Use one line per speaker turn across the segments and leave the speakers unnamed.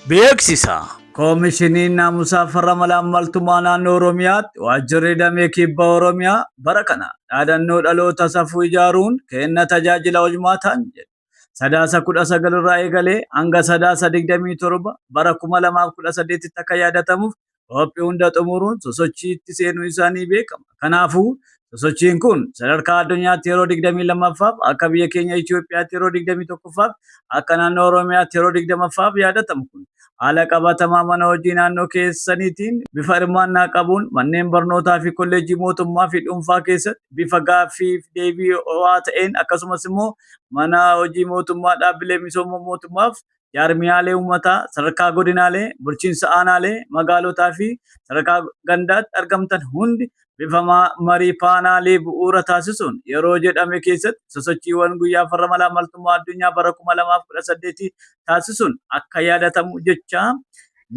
Beeksisa! Koomishiniin Naamusaa Farra Malaammaltumaa Naannoo Oromiyaatti Waajjirri Damee Kibba Oromiyaa bara kana dhaadannoo Dhaloota Safuu Ijaaruun Kenna Tajaajila Hojmaataan jedhu Sadaasa 19 irraa eegalee hanga Sadaasa 27 bara 2018tti akka yaadatamuuf Hoophi hunda xumuruun sosochiitti seenuu isaa ni beekama. Kanaafuu sosochiin kun sadarkaa addunyaatti yeroo 22ffaaf, akka biyya keenya Itoophiyaatti yeroo 21ffaaf, akka naannoo Oromiyaatti yeroo 20ffaaf yaadatamu kun haala qabatamaa mana hojii naannoo keessaniitiin bifa hirmaannaa qabuun manneen barnootaa fi kolleejjii mootummaa fi dhuunfaa keessatti bifa gaaffii fi deebii ho'aa ta'een akkasumas immoo mana hojii mootummaa dhaabbilee misooma mootummaaf jaarmiyaalee uummataa sadarkaa godinaalee, bulchiinsa aanaalee, magaalotaa fi sadarkaa gandaatti argamtan hundi bifa marii paanaalii bu'uura taasisuun yeroo jedhame keessatti sosochiiwwan guyyaa farra malaammaltummaa addunyaa bara 2018 taasisuun akka yaadatamu jechaa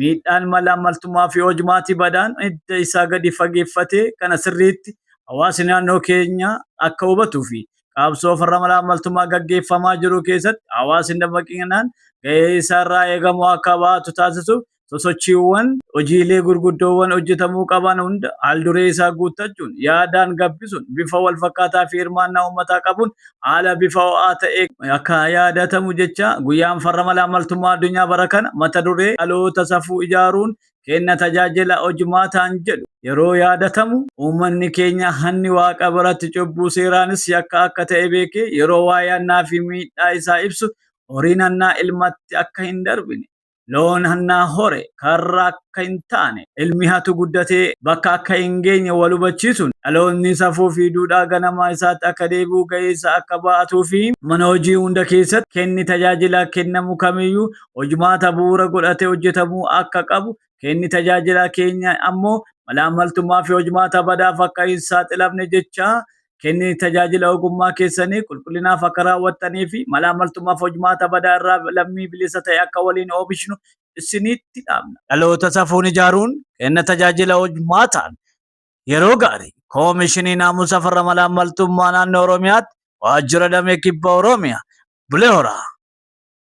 miidhaan malaammaltummaa fi hojmaatii badaan hidda isaa gadi fageeffatee kana sirriitti hawaasni naannoo keenya akka hubatuu fi qabsoo farra malaammaltummaa gaggeeffamaa jiru keessatti hawaasni dammaqinaan gahee isaarraa eegamu akka ba'atu taasisuuf sosochiiwwan hojiilee gurguddoowwan hojjetamuu qaban hunda haalduree isaa guuttachuun yaadaan gabbisuun bifa walfakkaataa fi hirmaannaa uummataa qabuun haala bifa ho'aa ta'e akka yaadatamu jecha guyyaan farra malaammaltummaa addunyaa bara kana mata duree dhaloota safuu ijaaruun kenna tajaajila hojmaataan jedhu yeroo yaadatamu uummanni keenya hanni waaqa biratti cubbuu seeraanis yakka akka ta'e beekee yeroo waa'ee hannaa fi miidhaa isaa ibsu horiin hannaa ilmatti akka hin darbine loon hannaa hore karra akka hin taane ilmi hatu guddatee bakka akka hin geenye wal hubachiisuun dhaloonni safuu fi duudhaa ganamaa isaatti akka deebi'u ga'eessa akka ba'atuu fi mana hojii hunda keessatti kenni tajaajila kennamu kamiyyuu hojmaata bu'uura godhate hojjetamuu akka qabu, kenni tajaajilaa keenya ammoo malaammaltummaa fi hojmaata badaaf akka hin saaxilamne jechaa kenni tajaajila ogummaa keessanii qulqullinaaf akka raawwattanii fi malaammaltummaaf hojmaata badaa irraa lammii bilisa ta'e akka waliin oomishnu isinitti dhaamna. Dhaloota safuun ijaaruun kenna tajaajila hojmaataan yeroo gaarii Koomishinii Naamusa Farra Malaammaltummaa Naannoo Oromiyaatti Waajjira Damee Kibba Oromiyaa Bulee Horaa.